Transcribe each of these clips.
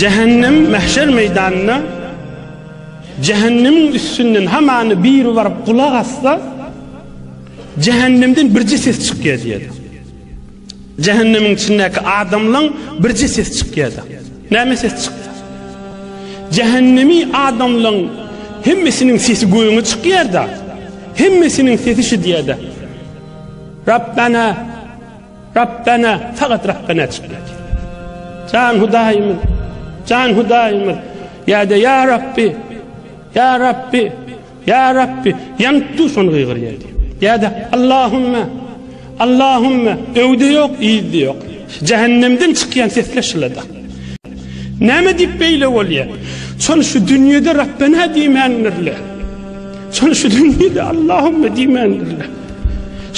Jähennem mähşer meýdanynda Jähennemiň üstünden hamany bir baryp gulak asda Jähennemden birje ses çykýar diýer. Jähennemiň içindäki adamlaň birje ses çykýar. Näme ses çykýar? Jähennemi adamlaň hemmesiniň sesi göýüňe çykýar da. Hemmesiniň sesi şu diýer. Rabbana Rabbena fakat Rabbena çykýar. Jan Hudaýymyz, Jan Hudaýymyz, ýa-da ýa Rabbi, ýa Rabbi, ýa Rabbi, ýanyp dur şony gygyrýar. Ýa-da Allahumma, Allahumma, öwde ýok, ýyzda ýok. Jähennemden çykýan sesler şylada. Näme diýip beýle bolýar? Şony şu dünýede Rabbena diýmändirler. Şony şu dünýede Allahumma diýmändirler.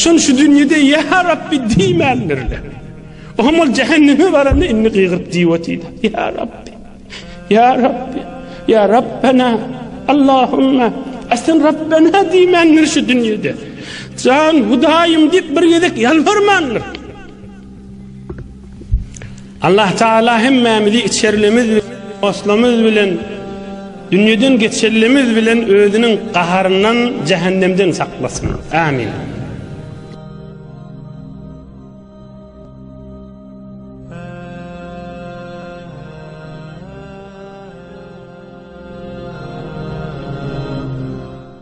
Şol şu dünýede ýa Rabbi diýmändirler. Oňa ol jähenneme baranda indi gygyryp diýip otyrdy. Ýa Rabbi. Ýa Rabbi. Ýa Rabbena. Allahumma. Asen Rabbena diýmändir şu dünýede. Jan Hudaýym diýip bir gezek ýalbarmandyr. Allah Taala hemmämizi içerlimiz we oslumyz bilen dünýeden geçerlimiz bilen özüniň gaharyndan, jähennemden saklasyn. Amin.